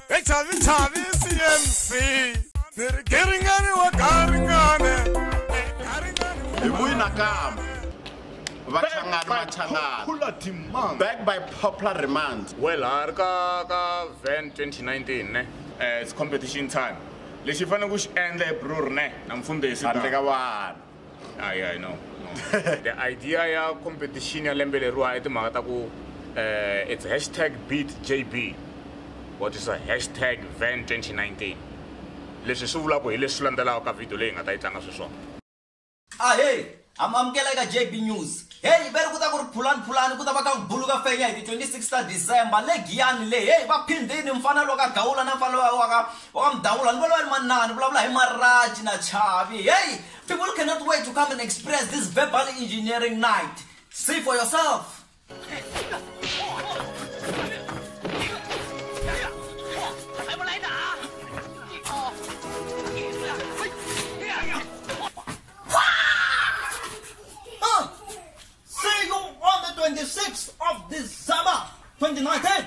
echavichavi cmc ni ri garingani wa garingane hi vuyi nakambe vachangani vachangani back by popular remand well ha ri ka ka van 2019 ne eh, it's competition time lexi fanele ku xi endla hi brur ne na mfundhisi handle ka vana Ah, yeah, I know. No. the idea ya competition ya lembe leriwa i timhaka ta ku uh, it's hashtag beat jb what is a hashtag van 2019 leswi swi vulaka hi leswi landzelaka ka video leyi nga ta yi tlanga sweswona ahey amamukela eka jb news heyi yi veri ku ta ku ri phulani phulani ku ta va ka ku bulu ka fenya hi ti 26 ta december legiyani leyi heyi va phindini mfanelo ka gawula na mfanelo wa ka Wa mdawula ni valwani manani vulavula hi Maraji na Chavi hey people cannot wait to come and experience this verbal engineering night see for yourself Huh. See you on the 26th of December 2019.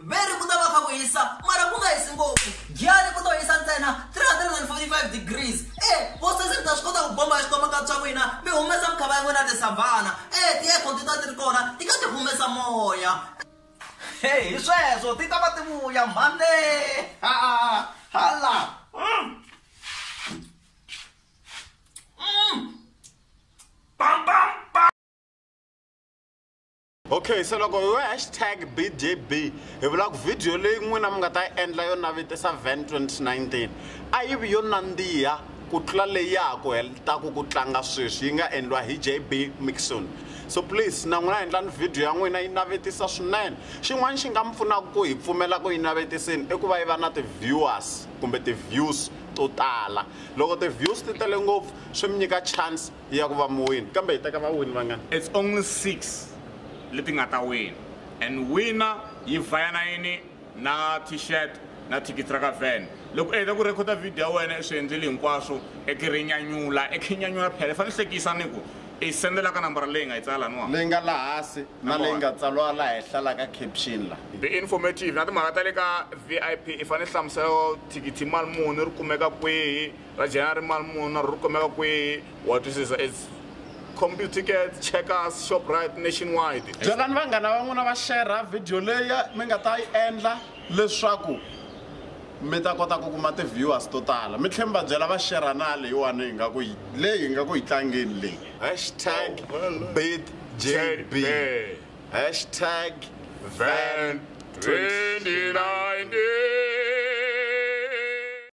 veri ku ta va kha ku hisa mara ku nga hisi ngopfu giyani ku to hisa ntsena 345 degrees e vosesi mi ta swi kota ku bomba xikwama ka tswa n'wina mi humesa mikhava ya n'wina tisavhana e ti-aircon ti ta ti ri kona ti ka ti humesa moya e hi sweswo ti ta va ti vuya mhane hala mm. mm. bam bam okay se loko hi hashtag bjb hi vula ku vhidiyo leyi n'wina mi nga ta yi endla yo navetisa van 2019 a yi vi yo nandziha ku tlula leyi ya ha ku heletaku ku tlanga sweswi yi nga endliwa hi jb mixon so please na n'wina endlani vhidiyo ya n'wina yi navetisa swinene xin'wana xi nga mi pfunaka ku hi pfumela ku yi navetiseni i ku va yi va na ti-viewers kumbe ti-views to tala loko ti-views ti tele ngopfu swi mi nyika chance ya ku va muwini, kambe hi teka vawini vangani? It's only six leti nga ta wina and wina yi vayana yini na t-shirt na thikithi ra ka van. Loko u heta ku rhekhoda vhidiyo ya wena i swi endlile hinkwaswo i ki ri nyanyula i khe nyanyula phela i fanele hlekisa ni ku i sendela ka nambara leyi nga yi tsala laniwani leyi nga laha hansi na leyi nga tsariwa laha henhla laha ka caption la be informative na timhaka ta le ka vip i fanele hlamusela thikithi mali muni ri kumeka kwihi ra jena ri mali muni na ri kumeka kwihi wa twisisa its compu tickets checkers shoprite nationwide byelani vanghana va n'wina va xerha vhidiyo leyi mi nga ta yi endla leswaku mi ta kota ku kuma ti-viewers to tala mi tlhe mi va byela va xerha na leyiwani hi nga ku leyi hi nga ku yi tlangeni leyi hashtag bit jb hashtag van 2019